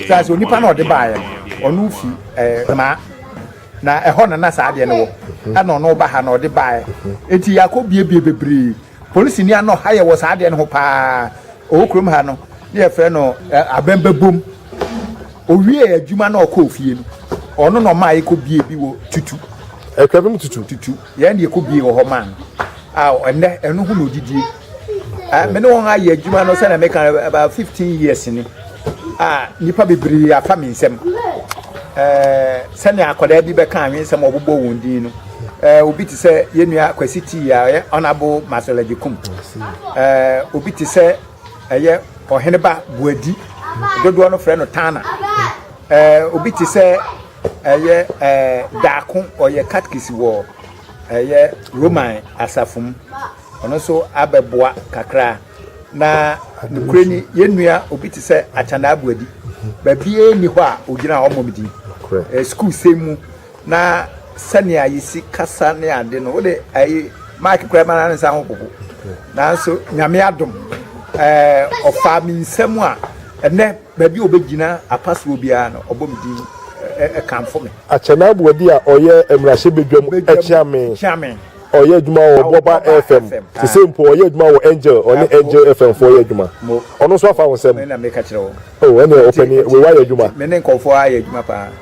[SPEAKER 2] saa sɛ onipa na ɔde baeɛ no ɔno fi ɛmaa na ɛhɔ na na saa adeɛ no wɔ ɛna ɔno ba ha na ɔde baeɛ eti yɛakɔ biebie bebree. Polisini ano ha yɛ wɔ saa adeɛ no ho paa ɔwɔ kurom ha no ne yɛfrɛ no abɛn bɛbom owie adwuma na ɔkɔ ofie no ɔno na ɔmaa yɛkɔ bie bi wɔ tutu ɛtwa bi mu tutu
[SPEAKER 1] tutu yɛn deɛ kɔ bie wɔ
[SPEAKER 2] hɔ maa no a ɛnɛ ɛno ho na ɔdidie me ne wɔn ayɛ adwuma no sɛdeɛ meka about 15 years ni a nnipa bebree afa me nsɛm sɛdeɛ akwadaa bi bɛka anwensɛm ɔbobɔ wɔn din no Eh, obi te sɛ yɛn nua Kwasi Tii a ɔyɛ Honourable Marcel Agyekum. Eh, obi te sɛ ɛyɛ Ɔheneba Buadi. Dodoɔ no frɛ no Tana. Eh, obi te sɛ ɛyɛ eh, Daako ɔyɛ katkisi wɔ ɛyɛ Roman asafo mu. Ɔno nso abɛboa kakra. Na nokorɛ ni yɛn nua obi te sɛ Akyana Abuadi. Baabiara nni hɔ a ɔgyina hɔ mmɔ me din. Eh, sukuu sɛm mu. Na sɛnea yesi kasa ne ade no, wode ayi mic koraa ma ne nsa ho popo. Nanso Nyame adom, ɛɛ ɔfaa me nsam a ɛnɛ baabi a obegyina apasoɔ biara no ɔbɔ me din ɛkamfo me. Akyenaboa bi a
[SPEAKER 1] ɔyɛ mmarahyɛbadwam kyea me. Ɔyɛ adwuma wɔ Boba FM. Sesei mpo ɔyɛ adwuma wɔ Angel, ɔne Angel FM foɔ yɛ adwuma. Ɔno nso afa wo nsam? Oh,
[SPEAKER 2] ɛneɛ ɔpanin,
[SPEAKER 1] wei woayɛ adwuma. Me ne nkurɔfoɔ ayɛ adwuma
[SPEAKER 2] paa.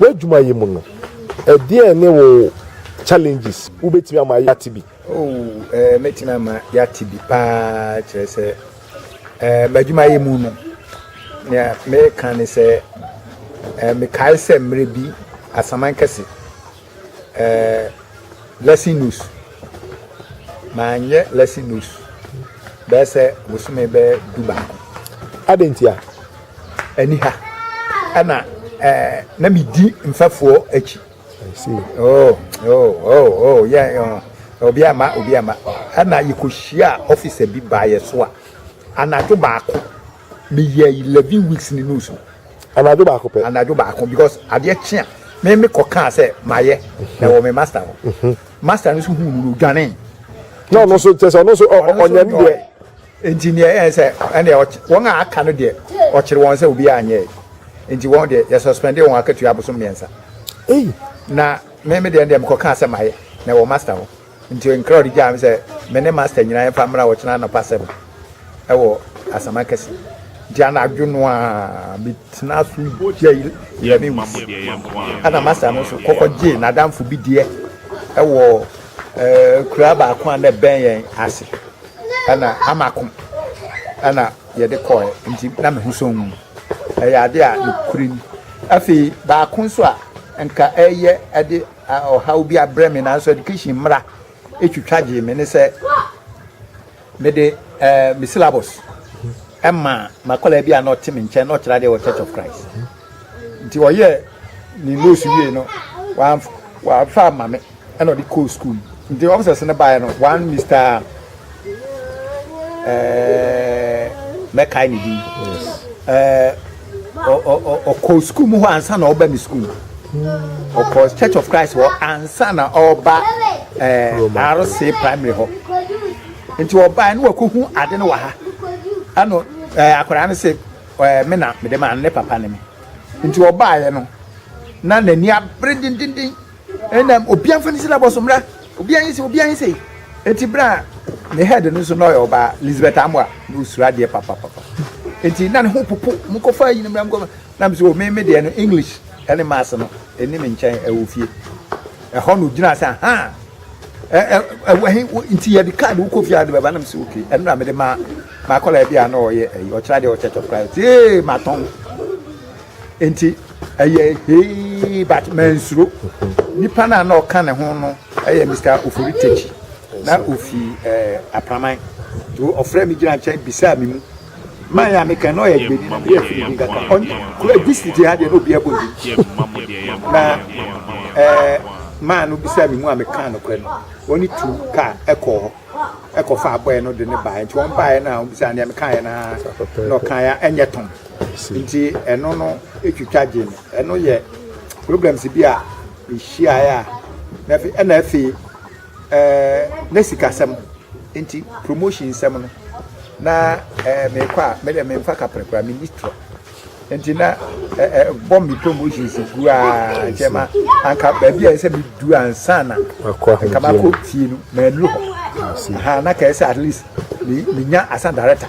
[SPEAKER 1] w'adwuma yi mu no, ɛdeɛn ne wo challenges? Wobɛtumi ama yɛate bi? Oh, eh, mɛtumi
[SPEAKER 2] ama yɛate bi paa, kyerɛ sɛ eh, m'adwuma yi mu no, nea meka ne sɛ eh, mekae sɛ mmerɛ bi asaman kɛse Eh, lesson notes. Manyɛ lesson notes bɛyɛ sɛ bosome bɛyɛ du baako. Adɛn ntia? Ani ha ɛna eh, na medi mfɛfoɔ akyi. Oh,
[SPEAKER 1] oh, oh, oh, yeah,
[SPEAKER 2] yeah. obi ama obi ama ɛna yɛkɔhyia ɔfisa bi baayɛ so a anadwo baako Meyɛ eleven weeks ne nose mu. Anadwo baako
[SPEAKER 1] pɛ. Anadwo baako because
[SPEAKER 2] adeɛ kye a me me kɔ kaa sɛ mayɛ na ɛwɔ me master hɔ. Mhm. Master no nso hu no no dwane. Na ɔno nso
[SPEAKER 1] kyɛ sɛ ɔno nso ɔnyɛ ne deɛ. Nti neɛ ɛyɛ
[SPEAKER 2] sɛ ɛneɛ wɔn a aka no deɛ ɔkyere wɔn sɛ obiara anyɛ nti wɔn deɛ yɛ suspende wɔn akatua abosom mmiɛnsa. Ei. Na me me deɛ deɛ mekɔ kaa sɛ mayɛ na ɛwɔ master hɔ. Nti nkra ɔde gyaa me sɛ me ne master nyinaa yɛmfa mmra ɔkyena anɔpa sɛm ɛwɔ asama kɛse. Nti anadwo no a metena so gyae yɛne wus. Ɛna master no nso kɔkɔ gyee n'adamfo bi deɛ ɛwɔ eh, kura baako a na ɛbɛn yɛn ase. Ɛna amako ɛna yɛde kɔɛ nti na me ho sɔn mu. Ɛyɛ ade a nokorɛ ni. Afei baako nso a nka ɛyɛ ɛde ɔhaw bi abrɛ me nanso education mmara twitwa gyee me ne sɛ mede eh, me syllabus ɛma makɔla bi a na ɔte me nkyɛn na ɔkyerɛ adeɛ wɔ church of christ nti ɔyɛ ne nose wie no wafa ama me ɛna ɔde kɔɔ school nti officers no baeɛ no one mr mɛkae ne din ɔkɔɔ sukuu mu hɔ ansa na ɔba mi sukuu ɔkɔɔ church of christ hɔ ansa na ɔba rc primary hɔ nti ɔbaa ne wakɔhu ade no wɔ ha ɛno akwadaa no se me na mede maa no ne papa ne me nti ɔbaeɛ no na n'ani abere dendenden Ɛna obiara mfa ne sika bɔ so mmra. Obiara nyɛ sei, obiara nyɛ sei. Enti berɛ a ne head no nso na ɔyɛ ɔbaa, Lizabeth Amoah, na ɔsuro adeɛ papapapa. Enti na ne ho popo, monkɔfa ayi no mmra, monkɔfa. Na me sɛ, oh, me, me deɛ no, English ne Maths no, ɛnni me nkyɛn wɔ fie. Ɛhɔ na ɔgyinaa sɛ, ahaa, ɛ, ɛ, ɛwɔ he, wo, nti yɛde card wokɔ fie a wode bɛba? Na me sɛ, ok. Ɛno na mede maa m'akwadaa bi a na ɔyɛ ɛyi, ɔkyerɛ adeɛ wɔ Church of Christ. Ee, matɔn. Enti ɛyɛ hee but mansuro. Nipa no a na ɔka ne ho no yɛ Mr. Ofori Tekyi na ofi eh, Apraman. Nti ɔfrɛ me gyina nkyɛn bisaa me mu. Man a meka na ɔyɛ gbedi na meyɛ firi bi nkaka. Ɔnye kura district ha deɛ na obi abɔ ndi. Na eh, man no bisaa me mu a meka nokorɛ no. Ɔne tu kaa ɛkɔɔ hɔ ɛkɔfa abɔɛ no de ne baeɛ. Nti wɔn baeɛ no a wɔbisaa nea mekaeɛ no ara na ɔkaeɛ a ɛnyɛ tɔn. ase. Nti ɛno no twitwa gye me. Ɛno yɛ problems bi a mehyiaeɛ a na afei ɛna afei ɛɛ ne sikasɛm nti promotion nsɛm no na ɛɛ mekɔ a me deɛ memfa kapere koraa menni torɔ nti na ɛɛ bɔ me promotions gu a nkyɛn ma anka baabi a ɛsɛ medu ansa na nka makɔ fie no mannu hɔ ha na kɛɛ sɛ at least menya asan director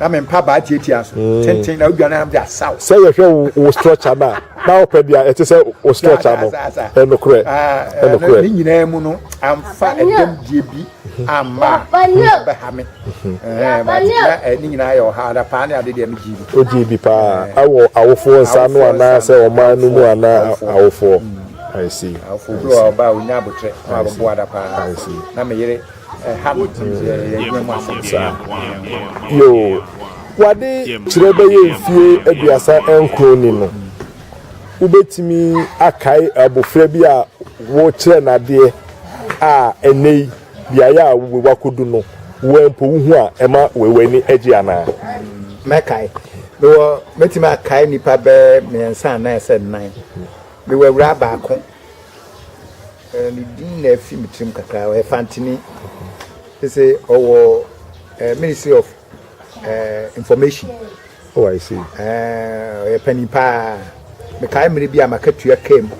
[SPEAKER 2] na me mpaabaa tiatia so mm. tenten na odwane anam de asaw. sɛ yɛhwɛ wo wo
[SPEAKER 1] structure no a na wopɛ deɛ ɛte sɛ wo structure no ɛnokorɛ ɛnokorɛ ne
[SPEAKER 2] nyinaa mu no amfa ɛdɛmdie bi amma bɛha me ne nyinaa yɛ ɔha ada paa ne ade deɛ megye bi ogye bi paa
[SPEAKER 1] awɔ awofoɔ nsa no anaasɛ ɔman no mu anaa awofoɔ I see. Awofoɔ bi wɔ ɔbaa
[SPEAKER 2] onya abotrɛ na waboa da paa na meyere
[SPEAKER 1] Yoo, w'ade kyerɛ bɛyɛ mfie aduasa nkron ni no, wobɛtumi akae abofra bi a wokyerɛɛ no adeɛ a ɛnnɛyi beaeɛ a wakɔdu no, wo ara mpo wohu a ɛma w'ani gye anaa? Mɛkae.
[SPEAKER 2] Mewɔ, mɛtumi akae nnipa bɛyɛ mmiɛnsa anaa sɛ nnan. Mewɔ awuraa baako. Ɛɛ ne din na ɛfi me tirim kakra ɔyɛ Fantini sɛ ɔwɔ ɛɛ ministry of ɛɛ information.
[SPEAKER 1] Oh, I see. Ɛɛ ɔyɛ panyin
[SPEAKER 2] paa mekae mmiri bi a maka tua kaa mu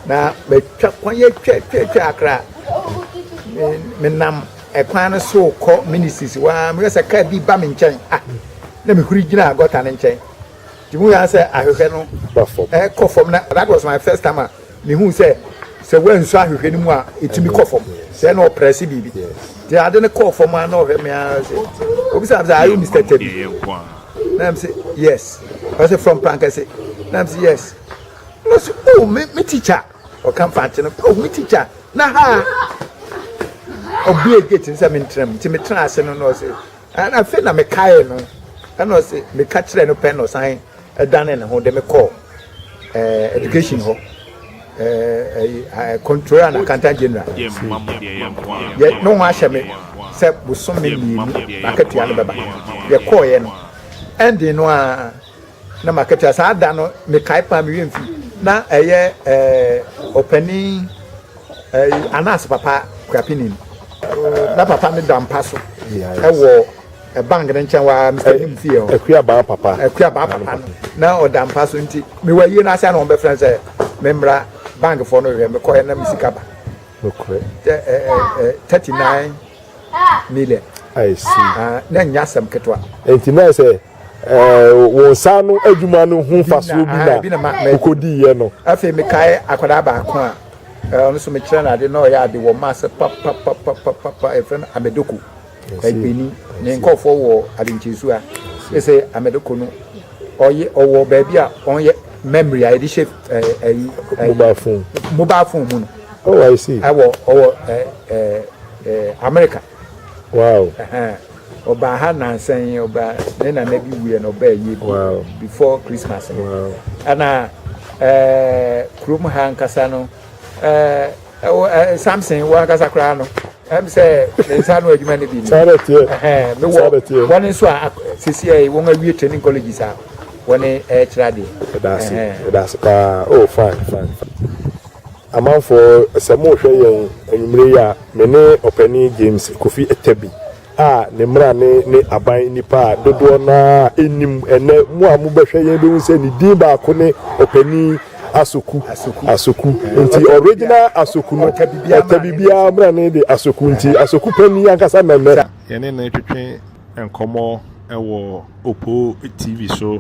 [SPEAKER 2] na matwa kwan yɛ twa twa twa akra menam ɛkwan no so kɔ ministries waa meyɛ sɛ kaa bi ba me nkyɛn ah na mehuri gyina gɔta no nkyɛn. Mihuu ara sɛ ahwehwɛ no rekɔ fam, na that was my first time a mihuu sɛ sɛ woansu ahwehwɛ no mu a, etumi kɔ fam. Sɛ na ɔprɛse biribi. Nti ade no kɔɔ fam ara na ɔhwɛ me ara sɛ, obisa me sɛ, Are you Mister Tabi? Na me se, Yes. Ɔse, From Prankɛse? Na me se, Yes. Na ɔse, Oh, me, me teacher. Ɔka Mfantse no, Oh, me teacher. Na ha a. Ɔbue gate no sɛ mentra mu, nti metraa ase no na ɔse, Ɛna afei na mekaee no, ɛna ɔse meka kyerɛɛ no pɛ na ɔsan ɛdanee ne ho de me kɔɔ ɛɛ education hɔ ɛɛ controller and accountant general yɛ ne ho ahyɛ me sɛ bosome mmienu n'akatua no bɛba yɛkɔɔeɛ no ɛndee no a Na m'akatua saa da no mekae paa me werɛ mfi na ɛyɛ eh, ɔpanin eh, Anas papa Kwapinin na papa no da mpa so ɛwɔ eh, bank no nkyɛn waa Mr. Nim fie hɔ Akuabaa papa
[SPEAKER 1] Akuabaa papa no na
[SPEAKER 2] ɔda mpa so nti mewɔ ayie no ase a na wɔbɛfrɛ sɛ memmra bankfoɔ no hwɛ mekɔɛ na me sika ba nokorɛ
[SPEAKER 1] 39
[SPEAKER 2] million I see.
[SPEAKER 1] Uh, na nya asɛm
[SPEAKER 2] ketewa. Nti na sɛ
[SPEAKER 1] wɔn nsa ano adwuma no ho mfasoɔ bi na wokɔdiiɛ no afei mekae
[SPEAKER 2] akwadaa baako a ɔno nso mekyerɛ no ade na ɔyɛ ade wɔ maase papapapapapa ɛfrɛ no amedoko agbeni ne nkɔfoɔ wɔ adenkyesu a ɛsɛ amedoko no ɔyɛ ɔwɔ baabi a ɔyɛ memory a yɛde hyɛ ɛyi mobile phone mobile phone mu no oh i see ɛwɔ
[SPEAKER 1] ɔwɔ
[SPEAKER 2] ɛɛ ɛɛ america
[SPEAKER 1] Wow.
[SPEAKER 2] Ɔbaa ha nansa yi ɔbaa ne nana bi wuiɛ na ɔbaa yie bi before Christmas no ɛna ɛɛ kurom ha nkasa no ɛɛ ɛwɔ ɛɛ Samson wɔ ankasa koraa no ɛm sɛ ne nsa ano adwuma no bi ni ɛhɛn mi wɔ wɔn nso a sisi ɛyɛ wɔn awie training colleges a wɔn ɛɛkyerɛ adeɛ. ɛdaase ɛdaase
[SPEAKER 1] paa oh fine fine. Amanfoɔ, sɛ morehwɛ yɛn anwumerɛ yi a, me ne Ɔpanin James Kofi Atabi a ne mmara ne ne aban nnipa a dodoɔ no ara nnim. Ɛnnɛ, mo a mobɛhwɛ yɛn bɛhu sɛ ne din baako ne Ɔpanin Asoku, Asoku. Nti original Asoku no, Atabi biara mmara no de Asoku, nti Asoku Panin ankasa na ɛnnɛ. Yɛne no retwetwe
[SPEAKER 3] nkɔmmɔ wɔ Opoo TV so.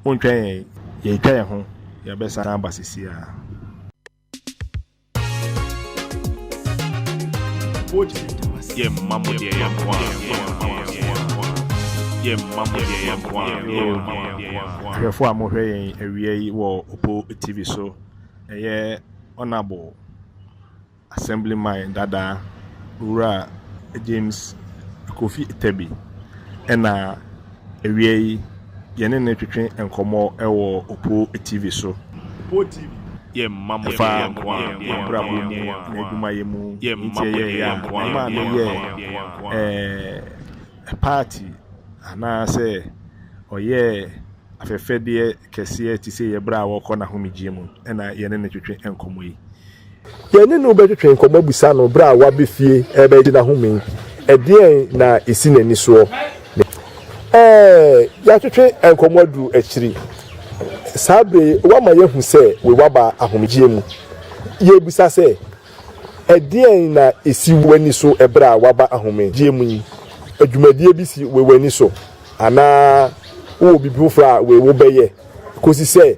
[SPEAKER 3] Montwɛn yɛn, yɛretwa yɛn ho, yɛbɛsan aba seesei ara. Yɛmma mo deɛ yɛn nko ara. Yɛmma mo deɛ yɛn nko ara. Ahwɛfoɔ a mohwɛ yɛn awia yi wɔ Opo TV so, ɛyɛ Honourable Assemblyman dada, Owura James Kofi Tebi na awia yi yɛne no retwetwe nkɔmmɔ wɔ Opoo TV so. Opoo TV yɛ mma mo yɛ nko ara, yɛ abrabɔ mu, n'adwumayɛ mu, nti ɛyɛ ya mma no yɛ ɛɛ party anaasɛ ɔyɛ afɛfɛdeɛ kɛseɛ te sɛ yɛ berɛ a ɔrekɔ n'ahomegyeɛ mu na yɛne no retwetwe nkɔmmɔ yi. Yɛne no
[SPEAKER 1] bɛtwetwe nkɔmmɔ abisa no bere a waba fie rebɛgye n'ahome yi, ɛdeɛn na ɛsi n'ani soɔ? Ɛɛ, yɛatwetwe nkɔmmɔ aduru akyiri. Saa bere yi, wama yɛahu sɛ waba ahomegyeɛ mu. Yɛbisa sɛ, Ɛdeɛn na ɛsi w'ani so bere a waba ahomegyeɛ mu yi? Dwumadie bi si w'ani so anaa wowɔ biribi foforɔ a wobɛyɛ kɔsi sɛ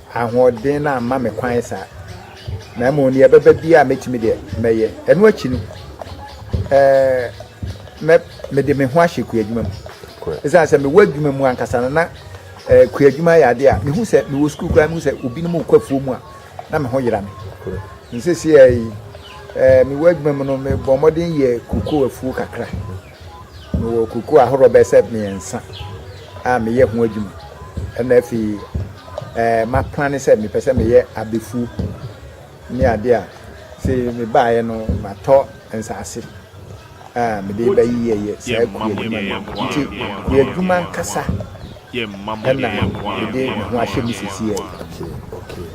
[SPEAKER 2] Ahoɔden no amma me kwan saa, na mmom nea ɛbɛba biara a mɛtumi deɛ, mɛyɛ. Ɛno akyi no, na mede me ho ahyɛ kuadwuma mu. Ɛsiane sɛ mewɔ adwuma mu ankasa no, na kuadwuma yɛ adeɛ a mehu sɛ mewɔ sukuu koraa mehu sɛ obinom rekɔ afuo mu a, na me ho yera me. Nseseɛ yi, mewɔ adwuma mu no, mebɔ mmɔden yɛ kokoo afuo kakra. Mewɔ kuku ahorow bɛyɛ sɛ mmiɛnsa a meyɛ ho adwuma. Ɛna afei ɛɛ maplane sɛ mepɛ sɛ meyɛ abɛfuo ne adeɛ a sɛ mebaeɛ no matɔ nsaase a mede bɛyeyɛyɛ saa kuo adwuma no. Nti yɛ adwuma ankasa ɛna mede me ho ahyɛ mu sisi yɛ. Okay, okay.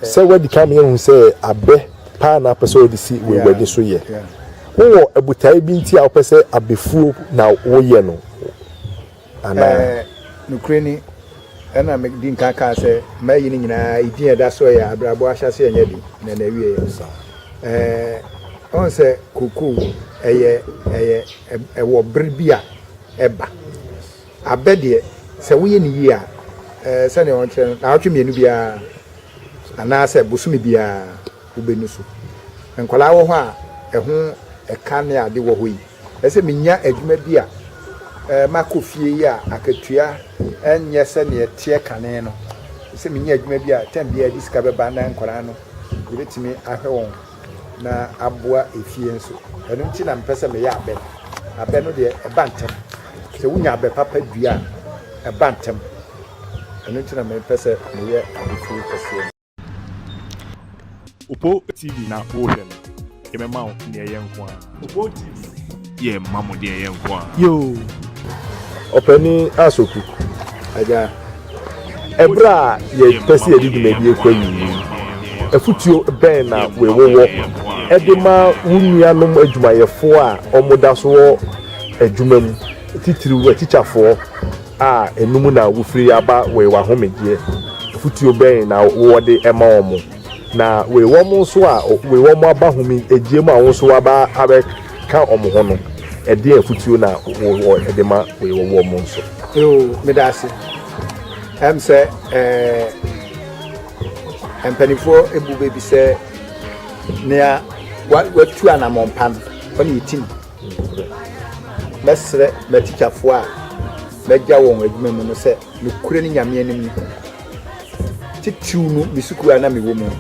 [SPEAKER 1] Sɛ wadi kan ma yɛahu sɛ abɛ paa na wopɛ sɛ wode si w'aguadi so yɛ. Wowɔ botae bi nti a wopɛ sɛ abɛfuo na woyɛ no anaa? Nokorɛ
[SPEAKER 2] ni, ɛna medi nkan kaa sɛ mayi no nyinaa, edin a ɛda soɔ yɛ abrabɔ ahyɛaseɛ nyɛ den na n'awieɛ. Woahu sɛ kokoo, ɛyɛ, ɛyɛ, ɛwɔ bere bi a ɛba. Abɛ deɛ, sɛ woyɛ no yie a, ɛɛ sɛdeɛ wɔkyerɛ no, nnawɔtwe mmienu biara anaasɛ bosome biara wobɛnu so. Nkwadaa wɔ hɔ a ɛho ɛka ne ade wɔ hɔ yi, ɛsɛ sɛ menya adwuma bi a ɛɛ makɔ fie yi a akatua nyɛ sɛdeɛ ɛteɛ kane no, ɛsɛ sɛ menya adwuma bi a tɛm biara ɛde sika bɛba na nkwadaa no yɛbɛtumi ahwɛ wɔn. na aboa efie nso. Ɛno nti na mepɛ sɛ meyɛ abɛ no. Abɛ no deɛ, ɛba ntɛm. Sɛ wonya abɛ papa dua a, ɛba ntɛm. Ɛno nti na mepɛ sɛ meyɛ abɛtuo kɛseɛ no.
[SPEAKER 3] Opoo TV na wohwɛ no, yɛbɛma wo deɛ ɛyɛ nko ara. Yɛ mma mo deɛ yɛ nko aa. Yoo
[SPEAKER 1] ɔpanin Asoku agya. Ɛberɛ a yɛpɛ sɛ yɛde dwumadie kɔ awie yi, afotuo bɛn na wowɔ de ma wo nuanom adwumayɛfoɔ a wɔda so wɔ adwuma mu, titiriw atikyafoɔ a ɛno mu na wofiri aba wɔ w'ahomegyeɛ? Afotuo bɛn na wowɔ de ma wɔn? Na wei wɔn nso a wei wɔn aba home gyeɛ mu a wɔn nso waba abɛka wɔn ho no, ɛdeɛn afutuo na wɔ ɛde ma wei wɔ wɔn nso? Yoo, meda ase.
[SPEAKER 2] Ɛm sɛ ɛɛ mpanimfoɔ ebu bɛ bi sɛ nea wa watu anamɔn pa no ɔne yɛti no. Mɛsrɛ m'atikyafoɔ a mɛgya wɔn adwuma mu no sɛ nokorɛ ne Nyame anim no titiriw no me sukuu a na mewɔ mu no,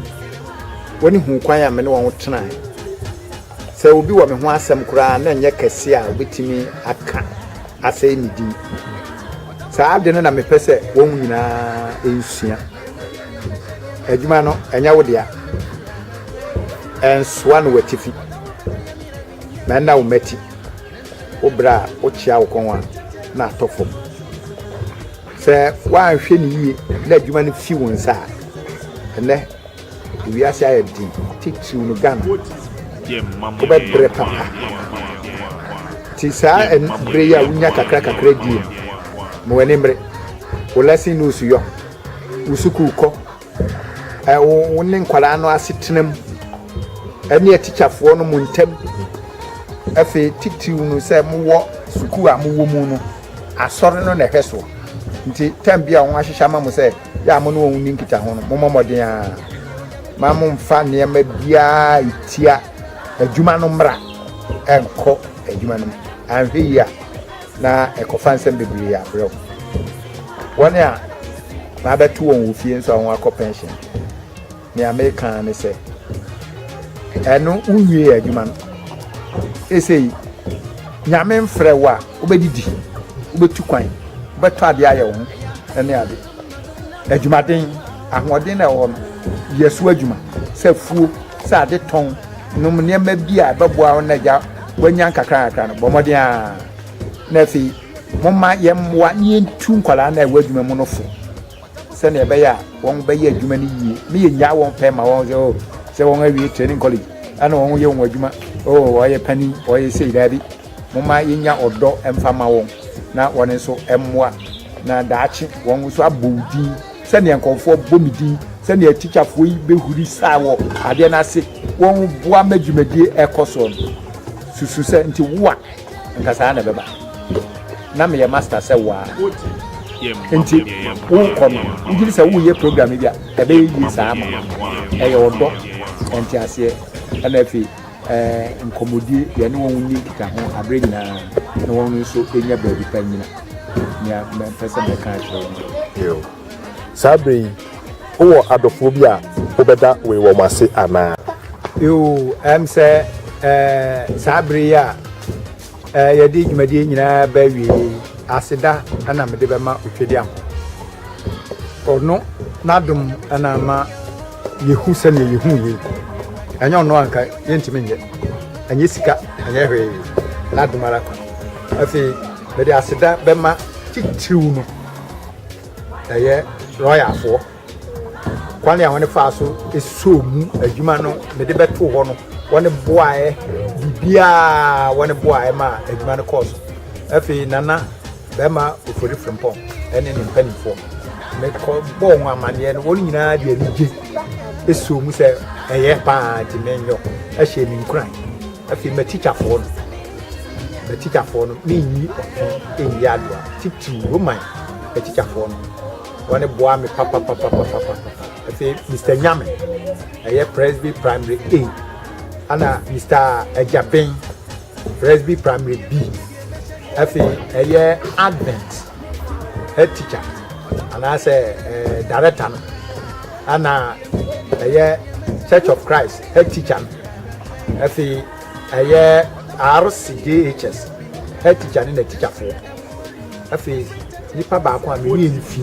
[SPEAKER 2] wɔne huu kwan a me ne wɔn tenae. Sɛ obi wɔ me ho asɛm koraa na ɛnyɛ kɛse a obetumi aka asɛe me din. Saa ade no na mepɛ sɛ wɔn nyinaa nsua. Adwuma no, ɛnyɛ wo dea. Ɛnsoa no w'atifi, na ɛnna wo mmati wo bere a wokyea wo kɔn a na atɔ fam. Sɛ woanhwɛ no yiye na adwuma no fi wo nsa a, ɛnnɛ wiase ayɛ den, titiriw no Ghana.
[SPEAKER 3] Wobɛbrɛ papa.
[SPEAKER 2] Nti saa bere yi a wunya kakrakakra die no, ma w'ani mmere. Wo lesson notes yɔ, wo sukuu kɔ, ɛwɔ wo ne nkwadaa no asetena mu ɛne atikyafoɔ no mu ntam afei titiriw no sɛ mowɔ sukuu a mowɔ mu no asɔre no na ɛhwɛ soɔ nti tam bi a wɔn ahyehyɛ ama mo sɛ yɛ a mo ne wɔn ni nkitaho no mommɔ mmɔden a ma momfa nneɛma biara ɛtia adwuma no mmra ɛnkɔ adwuma no mu anhwɛ yi a na ɛkɔfa nsɛm bebree yɛ abrɛ wo. Wɔn a wɔabɛto wɔn wɔ fie nso a wɔakɔ pɛnhyen. Nea meka ara ne sɛ, ɛno wonwie adwuma no. Esei, Nyame mfrɛ wo a, wobɛdidi, wobɛtu kwan, wobɛtɔ adeɛ ayɛ wo ho ne ade. adwumaden, ahoɔden no a ɛwɔ hɔ no, yɛ so adwuma, sɛ afuo, sɛ ade tɔn, nom nneɛma bi a ɛbɛboa wo na agya wanya nkakrankakra no, bɔ mmɔden ara. Na afei, momma yɛmmoa na yɛntu nkwadaa no a ɛwɔ adwuma mu no fo sɛnea ɛbɛyɛ a wɔbɛyɛ adwuma no yie na yɛnyaa wɔn pɛ ma wɔn sɛ oh, sɛ wɔn awie training college ɛna wɔn yɛ wɔn adwuma oh, wɔyɛ panin wɔyɛ sei daabi Momma yɛnnya ɔdɔ mfa mma wɔn na wɔn nso mmoa na daakye wɔn nso abɔ wo din sɛdeɛ nkɔmfoɔ bɔ me din, sɛdeɛ atikyafoɔ yi bɛhuri saa wɔ adeɛ no ase wɔn boa ma dwumadie ɛkɔ soɔ no. Susu sɛ nti wo a nka saa na ɛbɛba. Na meyɛ master sɛ wo ara nti wokɔ no ngyiri sɛ woyɛ program bi a ɛbɛyɛ yie saa ma ɛyɛ ɔdɔ, nteaseɛ ɛna afei nkɔmmɔdie, deɛ ne wɔn nni nkitaho aberɛ nyinaa na wɔn nso nya baabi pa nyina nea mɛmpɛ sɛ mɛka akyerɛ wɔn. Saa berɛ
[SPEAKER 1] yi, wowɔ adɔfoɔ bi a wobɛda wei wɔn ase anaa? Yoo,
[SPEAKER 2] ɛm sɛ saa berɛ yi a. Eh, yɛde dwumadie nyinaa ba awieɛ yi aseda na mede bɛma otwadi ankɔ ɔno n'adom na ama yɛhu sɛdeɛ yɛhu yei ɛnyɛ ɔno anka yɛntumi nyɛ ɛnyɛ sika ɛnyɛ hwee n'adom ara kwa afei mede aseda bɛma titiriw no ɛyɛ lɔyafoɔ Kwan a wɔn faa so sɔɔ mu adwuma no mede bɛtoo hɔ no, wɔn boaeɛ biribiara wɔn boaeɛ ma adwuma no kɔɔ so. Afei Nana bɛrima Ofori Frimpong ne ne mpanimfoɔ mekɔ bɔɔ wɔn amaneɛ no, wɔn nyinaa de anigye sɔɔ mu sɛ ɛyɛ paa nti menyɔ ɛhyɛ me nkuran. Afei matikyafoɔ no matikyafoɔ no menyi ɔtwe nyi adoa titiriw Roman atikyafoɔ no. Wɔn boa me papapapapapa. Afei Mister Nyame ɛyɛ Presby Primary A ɛna Mister Agyaben Presby Primary B. Afei ɛyɛ Advent head teacher anaasɛ ɛɛ eh, director no ɛna ɛyɛ Church of Christ head teacher no. Afei ɛyɛ RCJHS head teacher ne na teacherfoɔ. afei nipa baako a meyɛ ne fi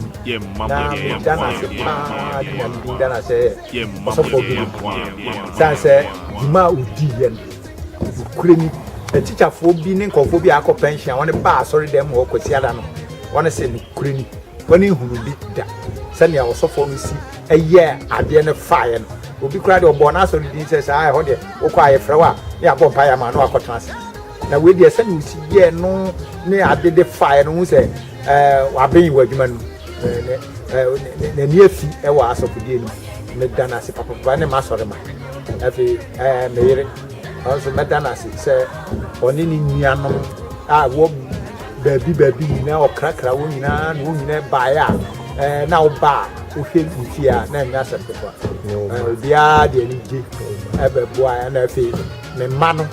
[SPEAKER 2] na meda no ase paa de nyame din da no asɛ yɛ ɔsɔfoɔ bi no sane sɛ dwuma a ɔdii yɛ no nokorɛ ni atikyafoɔ bi ne nkɔfoɔ bi a akɔ pension a wɔne baa asɔre dɛm hɔ kwasiada no wɔne sɛ nokorɛ ni wɔne nhunu bi da sɛnea ɔsɔfoɔ no si ɛyɛ adeɛ no faeɛ no obi koraa deɛ ɔbɔɔ no asɔre din sɛ saa ɛhɔ deɛ wokɔ a yɛfrɛ wo a ne yɛabɔ mpa yɛ ama no akɔtena ase Na wei deɛ sɛdeɛ ɔsi yɛɛ no ne ade de faeɛ no, wohu sɛ waben wɔ adwuma no mu. N'ani afi wɔ asɔfodie no mu. Meda no ase papapapa ne m'asɔremma. Afei me yere, ɔno nso mɛda no ase sɛ ɔne ne nuanom a wɔ baabi baabi nyinaa, ɔkrakra wɔn nyinaa na wɔn nyinaa baeɛ a na woba a wohwɛ ne fie a na ɛnyɛ asɛm ketewa. Obiara de anigye bɛboa na afei me mma no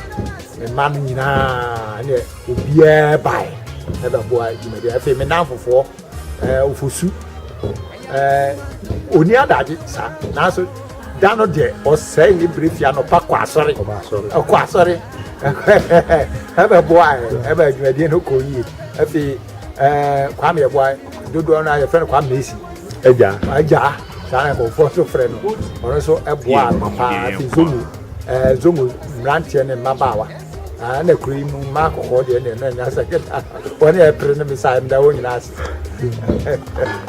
[SPEAKER 2] Me mma no nyinaa ne obiara bae ɛbɛboa dwumadi. Afei me nnamfofoɔ ɛɛ ofosu ɛɛ oni adagye saa nanso da no deɛ ɔsɛe ne bere fi anɔpa kɔ asɔre ɔkɔ asɔre ɛbɛboa ɛbɛ dwumadi no kɔ yie. Afei ɛɛ kwame ɛboa dodoɔ no a yɛfrɛ no kwame mesi. Agya. Agya. Saa na nkurɔfoɔ nso frɛ no. Ɔno nso boaa no paa fi Zomu ɛɛ Zomu mmeranteɛ ne mmabaawa. Ɛɛ na kuro yi mu mmaa kɔkɔɔ deɛ ne na nya sɛ kɛta wɔn a ɛpere no bisa ɛmda wɔn nyinaa ase.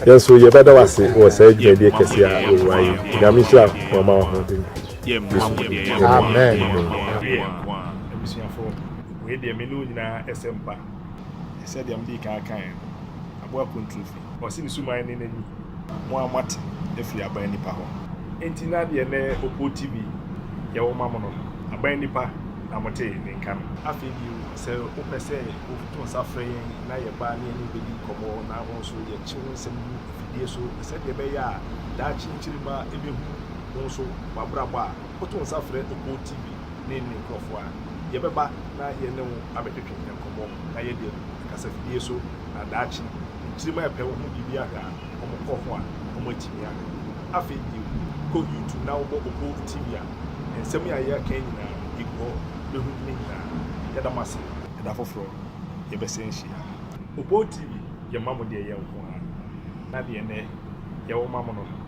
[SPEAKER 1] Yɛn nso yɛbɛda wo ase wɔ saa dwumadie kɛseɛ a wɔwura yi. Nyame nhyira wɔn ma wɔahoɔden. Yesu din mu. Amen.
[SPEAKER 2] Abusuafoɔ, wei deɛ me ne
[SPEAKER 3] wo nyinaa ɛsɛ mpa. Sɛdeɛ medii kan kaeɛ no, aboa kontompo. Ɔse ne suman ne n'ani. Mo a moate afiri aban nipa hɔ. Enti na deɛ nɛ Oppo TV yɛ wo ma mo no, aban nipa na mote ne nka no? Afei bio, sɛ wopɛ sɛ woto nsa frɛ yɛn na yɛba ne yɛne wo bɛdi nkɔmmɔ na wo nso yɛkye wo nsɛm gu afidie so sɛdeɛ ɛbɛyɛ a daakye nkyirimma bɛhunu wo nso w'abrabɔ a, woto nsa frɛ GOtv ne ne nkurɔfo a, yɛbɛba na yɛne wo abɛtwetwe nkɔmmɔ na yɛde adu kasafidie so, na daakye nkyirim a ɛpɛ wɔn ho biribi ahwɛ a, wɔkɔ ho a, wɔatumi ahwɛ. Afei bio, kɔ YouTube na wobɔ GOtv a, nsɛm yi a yɛaka yi nyinaa no, ɛgu hɔ, bɛhu ne nyinaa. Yɛda mo ase. Da foforɔ yɛbɛsan hyia. GOtv, yɛma mo deɛ ɛyɛ nko ara, na deɛ nnɛ yɛwɔ ma mo no.